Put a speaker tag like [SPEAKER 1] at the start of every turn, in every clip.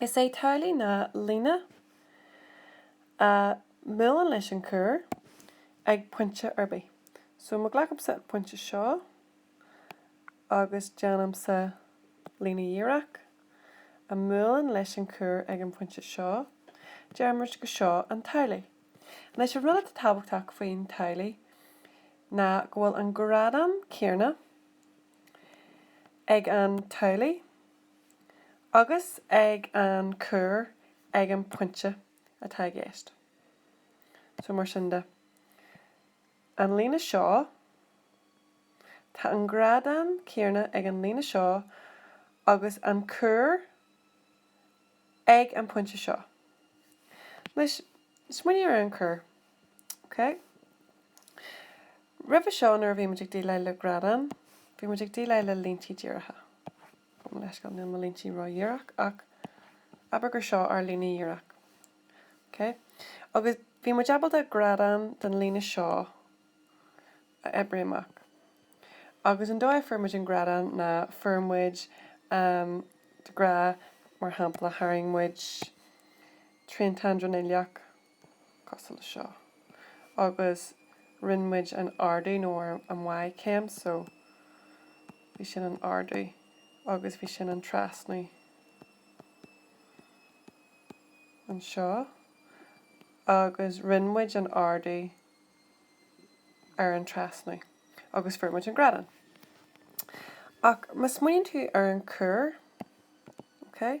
[SPEAKER 1] Is é tadhlaí ná líne a bhuaileann leis an cuar ag pointe ar bith. So má ghlacamsa an pointe seo agus déanaimse líne dhíreach a bhuaileann leis an cuar ag an phointe seo, deir muid gur seo an tadhlaí. Anois an rud atá tábhachtach faoin tadhlaí ná go bhfuil an grádán céarna ag an tadhlaí, agus ag an cuar ag an pointe atá i gceist. So, mar sin de, an líne seo, tá an grádán céarna ag an líne seo agus an cuar ag an pointe seo. Anois, smaoinigh ar an cuar. OK. Roimhe seo nuair a bhí muid ag déileáil le grádán, bhí muid ag déileáil le líntí díreacha. Gabhaim leithscéal, níl mo líntí ró-dhíreach ach abair gur seo ár líne dhíreach. OK? Agus bhí muid ábalta grádán den líne seo a oibriú amach. Agus an dóigh a fuair muid an grádán ná fuair muid, den ghraf, mar shampla, tharraing muid triantán dronuilleach, cosúil le seo, agus rinne muid an ardú, nó an Y céim, so bhí sin an ardú agus bhí sin an trasnú anseo, agus rinne muid an ardú ar an trasnú agus fuair muid an grádán. Ach má smaoiníonn tú ar an cuar, okay,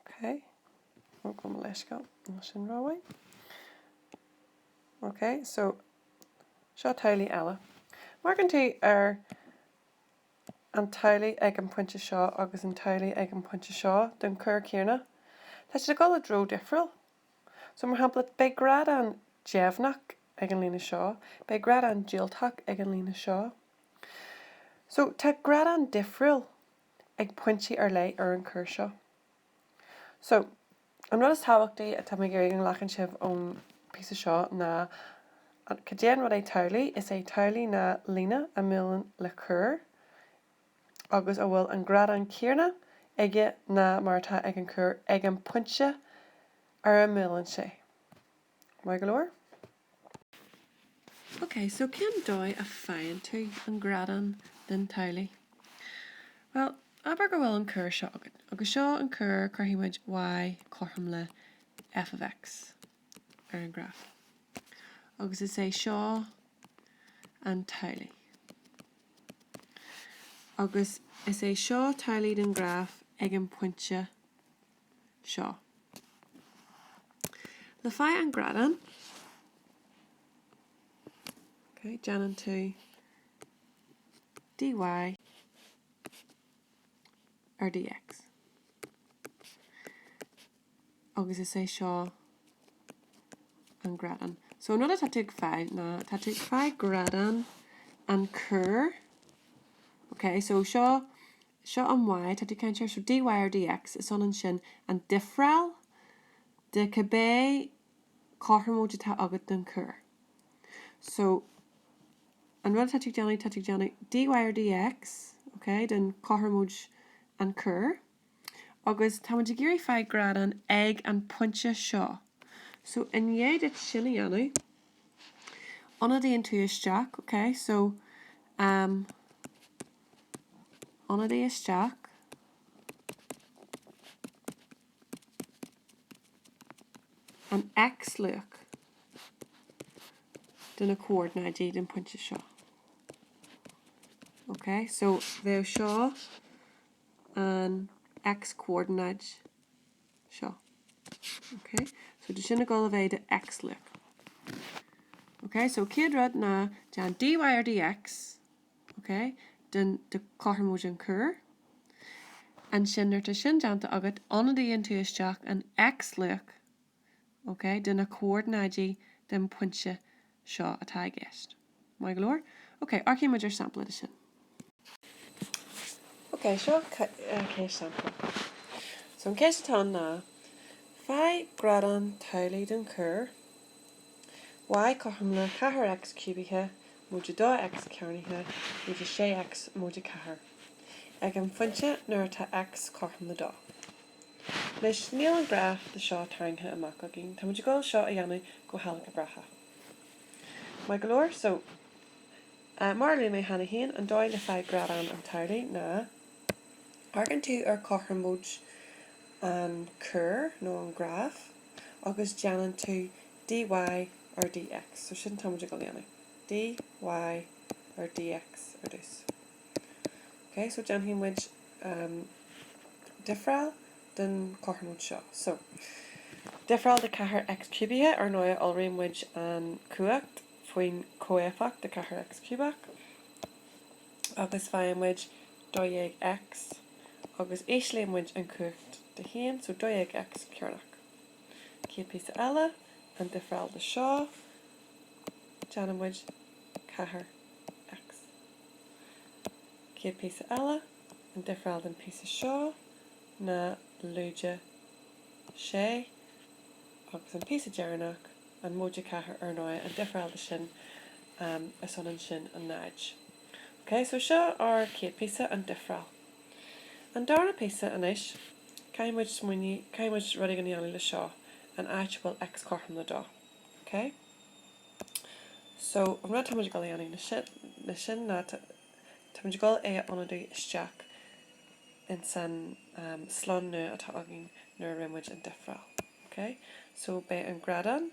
[SPEAKER 1] OK. Gabh mo leithscéal. Níl sin rómhaith. OK, so seo tadhlaí eile. Má amharcann tú ar an tadhlaí ag an pointe seo agus an tadhlaí ag an pointe seo den chuar céarna. Tá siad ag dul i dtreo difriúil. So, mar shampla, beidh grádán deimhneach ag an líne seo, beidh grádán diúltach ag an líne seo. So, tá grádán difriúil. ag pointí ar leith ar an cuar seo. So, an rud is tábhachtaí atá mé ag iarraidh go nglacann sibh ón píosa seo ná, cad é an rud é tadhlaí, is é tadhlaí ná líne a bhuaileann le cuar agus a bhfuil an grádán céanna aige ná mar atá ag an cuar ag an pointe ar a mbuaileann sé. Maith go leor. Ok, so cén dóigh a faigheann tú an grádán den tadhlaí? Bhuel, abair go bhfuil an cuar seo agat, agus seo an cuar, cuirfidh muid y cothrom le f of x ar an ghraf, agus is é seo an tadhlaí. Agus is é seo tadhlaí den graf ag an pointe seo. Le fáil an grádán, déanann tú dy ar dx agus is é seo an grádán. So an rud atá tú ag fáil ná tá tú ag fáil grádán an cuar. Okay, so seo seo an y atá tú ag caint air, so dy ar dx, is ionann sin an difreáil de cibé cothromóid atá agat den cuar. So an rud atá tú ag déanamh, tá tú ag déanamh dy ar dx, ok, den chothromóid an chuair, agus tá muid ag iarraidh fáil grádán ag an pointe seo. So i ndiaidh duit sin a dhéanamh, ionadaíonn tú isteach, ok, so, um, ionadaí isteach, an x-luach de na comhordanáidí den phointe seo. Ok, so bheadh seo an x-comhordanáid seo. Ok, so tá sin ag dul a bheith do x-luach. Ok, so céad rud ná déan dy ar dx, OK, den, de chothromóid an chuair. Ansin nuair atá sin déanta agat, ionadaíonn tú isteach an x-luach, OK, de na comhordanáidí den phointe seo atá i gceist. Maith go leor? OK, amharcfaidh muid ar sampla de sin. OK, seo chéad sampla. So an cheist atá ann ná, faigh grádán tadhlaí den chuar. y cothrom le 4X ciúbaithe móide 2X cearnaithe móide 6X móide 4 ag an phointe nuair atá X cothrom le 2. Anois, níl an graf de seo tarraingthe amach againn, tá muid ag dul seo a dhéanamh go hailgéabrach. Maith go leor. So, mar a luaigh mé cheana féin, an dóigh le fáil grádán an tadhlaí ná amharcann tú ar chothromóid an chuair nó an ghraif, agus déanann tú dy ar dx, so sin atáimid ag dul a dhéanamh, dy ar dx ar dtús. Ok, so déanfaidh muid difreáil den chothromóid seo. So, difreáil de 4x ciúbaithe, ar ndóigh, iolraíonn muid an chumhacht faoin chomhéifeacht den 4x ciúbach. agus faigheann muid 12X agus íslíonn muid an chumhacht de 1, so 12X cearnach. Céad píosa eile, an difreáil de seo, déanann muid 4X. Céad píosa eile, an difreáil den píosa seo ná lúide 6 agus an píosa deireanach, an móide 4, ar ndóigh, an difreáil de sin Um, is ionann sin agus náid. Ok, so seo ár céad píosa, an difreáil. An darna píosa anois, caithfidh muid smaoineamh, caithfidh muid rud éigin a dhéanamh le seo, an áit a bhfuil X cothrom le dó. Ok? So, an rud atá muid ag dul a dhéanamh le sin ná tá muid ag dul é a ionadú isteach in san slonn nua atá againn nuair a rinne muid an difreáil. Ok? So, beidh an grádán.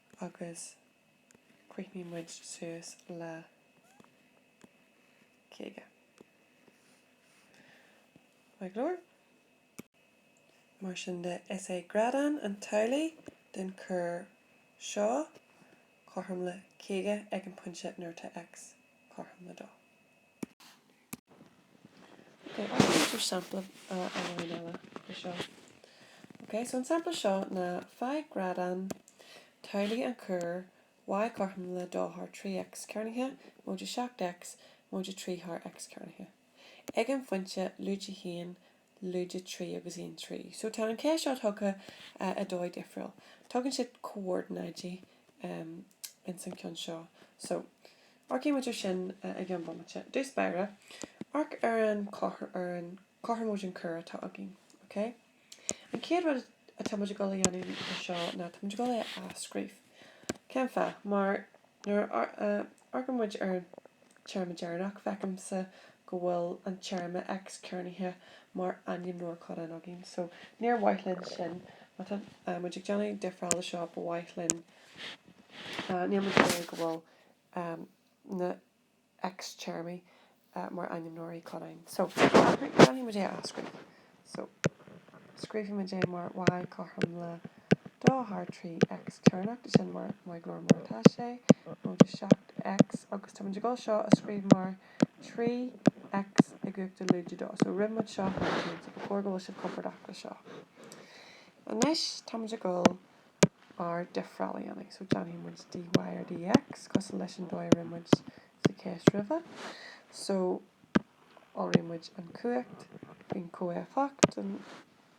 [SPEAKER 1] agus críochnaíonn muid suas le 50. Maith go leor. Mar sin de, is é grádán an tadhlaí den chuar seo cothrom le 50 ag an bpointe nuair atá X cothrom le 2. OK, sampla amháin eile de seo. OK, so an sampla seo ná, Faigh grádán tadhlaí an chuair Y cothrom le 2 thar 3 X cearnaithe móide 7 X móide 3 thar X cearnaithe. Ag an phointe lúide a haon lúide trí agus aon trian. So tá an cheist seo tugtha i dóigh difriúil. Tugann siad comhordanáidí ins an ceann seo. So, amharcfaidh muid ar sin i gceann bomaite. Ar dtús báire, amharc ar an ar an cothromóid an chuair atá againn, ok? An chéad rud atá muid ag dul a dhéanamh anseo ná tá muid ag dul é a athscríobh. Cén fáth? Mar. Nuair a amharcann muid ar an téarma deireanach, feicimse go bhfuil an téarma X cearnaithe mar ainmneoir codáin againn, so níor mhaith linn sin. Má tá muid ag déanamh difreáil le seo, ba mhaith linn, níor mhaith go bhfuil na. X téarmaí mar ainmneoirí codáin. So, déanfaimid é a athscríobh. So, scríobhfaimid é mar Y cothrom le 2 thar 3 X cearnach, tá sin mar maith go leor mar atá sé, móide 7 X, agus táimid ag dul seo a scríobh mar 3 X i gcumhacht a lúide dó. So, rinne muid seo thar an chéad, so ba chóir go bhfuil sibh compordach le seo. Anois, táimid ag dul. ár difreáil a dhéanamh, so déanfaidh muid dy ar dx cosúil leis an dóigh a rinne muid sa cheist roimhe, so iolraíonn muid an chumhacht faoin chomhéifeacht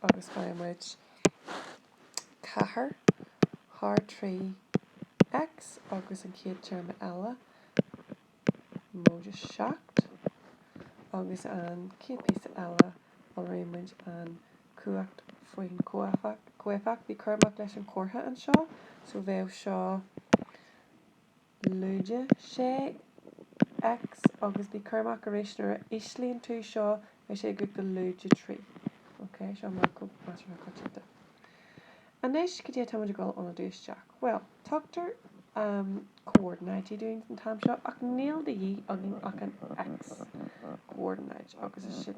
[SPEAKER 1] agus faigheann muid 4 thar 3 x agus an chéad téarma eile, móide 7, agus an chéad phíosa eile, Iolraíonn muid an chumhacht faoin chomhéifeacht. Bí cúramach leis an chomhartha anseo, so bheadh seo lúide 6 X, agus bí cúramach arís nuair a íslíonn tú seo, bheadh sé i gcumhacht a lúide 3. Ok, seo meancóg measartha coitianta. Anois, cad é atá muid ag dul ionadú isteach? Bhuel, tugtar comhordanáidí dúinn an t-am seo, ach níl de dhíth againn ach an x-chomhordanáid, agus is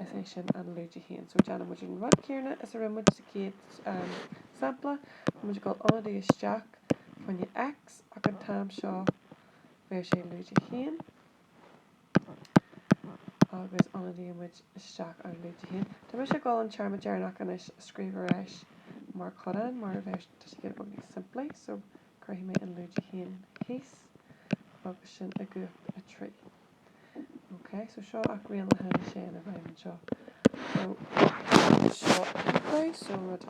[SPEAKER 1] é sin an lúide 1. So déanann muid an rud céarna is a rinne muid sa chéad sampla, tá muid ag dul ionadú isteach fá choinne x, ach an t-am seo beidh sé lúide 1. agus ionadaíonn muid isteach an lúide a haon. Tá mise ag dul an téarma deireanach anois a scríobh ar ais mar chodán, mar a bheadh, tá sé giota beag níos simplí, so cuirfidh mé an lúide a haon thíos agus sin i gcumhacht a trí. Ok, so seo ach rian le haghaidh sé ina bhfeidhm anseo. So seo a so rud.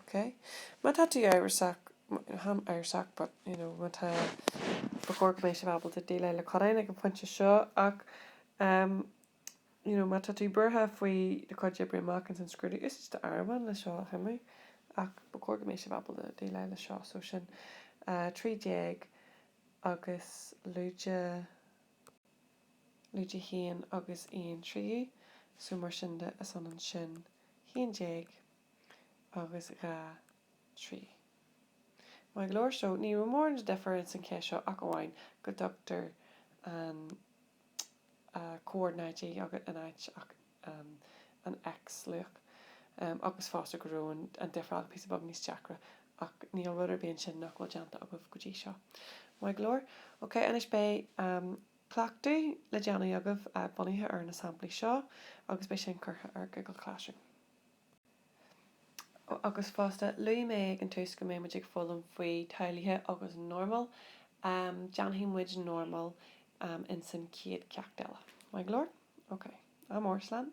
[SPEAKER 1] OK? Má tá tú amhrasach, táim amhrasach, but, you know, má tá, ba chóir go mbeidh sibh ábalta déileáil le codáin ag an phointe seo, ach, em, you know, má tá tú buartha faoi do chuid oibre amach ins an scrúdú, úsáid do áireamhán le seo a shuimiú, ach ba chóir go mbeidh sibh ábalta déileáil le seo, so sin, eh, trí déag agus lúide. lúide a haon agus aon tríú, so mar sin de is ionann sin haon déag agus dhá thrí. Maith go leor, so, ní raibh mórán de dhifear ins an cheist seo ach amháin go dtugtar an chomhordanáid in áit an. um an X-luach um agus fosta go raibh an an difreáil píosa beag níos deacra ach níl rud ar bith ansin nach bhfuil déanta agaibh go dtí seo. Maith go leor. Ok, anois beidh um cleachtadh le déanamh agaibh uh bunaithe ar na samplaí seo agus beidh sin curtha ar Google Classroom. agus fosta, luaigh mé ag an tús go mbeidh muid ag foghlaim faoi tadhlaithe agus normal, déanfaidh muid normal insan chéad ceacht eile. Maith go leor? Ok. Am Óir Slam?